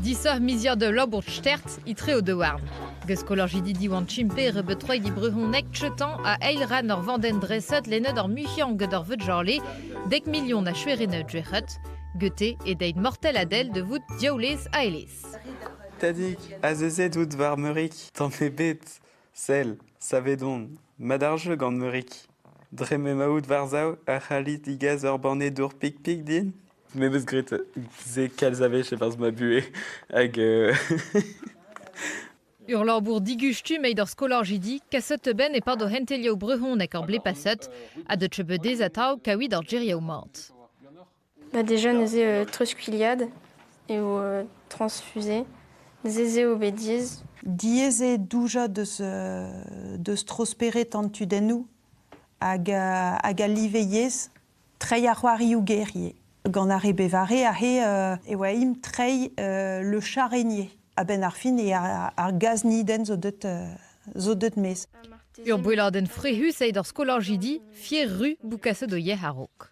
Disoc'h miziad ul labour stert etre o daouarn. Gant skolajidi Diwan Chimpe rebeut troig e brezhoneg Chetan a eil ran ur vandenn dreset lennet ar muiañ gant ar Vudjale, dek milion a chuerennet juec'het, gete e deit mortel a del de vout diaoulez a elez. Tadig, azezet out war Meurik, tamm ebet, sell, savedon, mat ar jeu gant Meurik. Dre m'emaout war-sav, ar c'halit digas ur banne dour pik-pik din Me 'meus graet se kalz a wech e-barzh ma buhez hag euh, Ur labour digustum eo d'ar skolajidi kaset benn e-pad o c'hentelioù brezhonek ar blez paset ha da trebeudez atav kaouit ar gerioù mat. Bah déjà neuze euh, treuzkuiliad eo euh, transfuser. Neuze se eo bet diaes. Diaes eo doujañ deus, euh, deus trosperet an tudennoù hag, hag al live yezh. treiñ ar c'hoarioù-guerrier. Gant ar re bevare aze e oa-imp treiñ le charrenier. A-benn ar fin ar gaznidenn zo deut maez. Ur boelladenn frec'hus eo d'ar skolajidi Fier-Ru bout kaset o yec'h a-raok.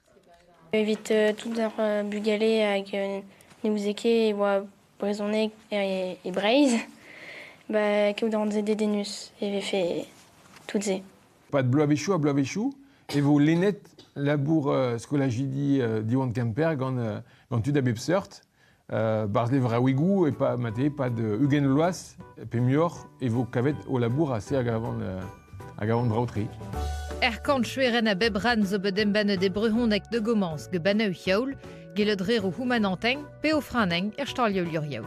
Evit tout ar bugale hag ne ouzie ket e oa brezhoneg e Breizh, ba kaout a-rant-se dedennus e vefe tout-se. Pad bloavezhioù ha bloavezhioù e vo lennet labour uh, skolajidi uh, Diwan Kemper gant, uh, gant tud a bep seurt. Uh, Barzh levraouigoù e pa, mate, pad uh, ugent bloaz, pe muioc'h, e vo kavet o labour a se hag a van, uh, hag a van brav-tre. Er kantchueren a bep ran zo bet embannet e brehoneg de gomañs geban eu yaoul, gellet re o houmananteñ pe o franeñ er stalioù luriaou.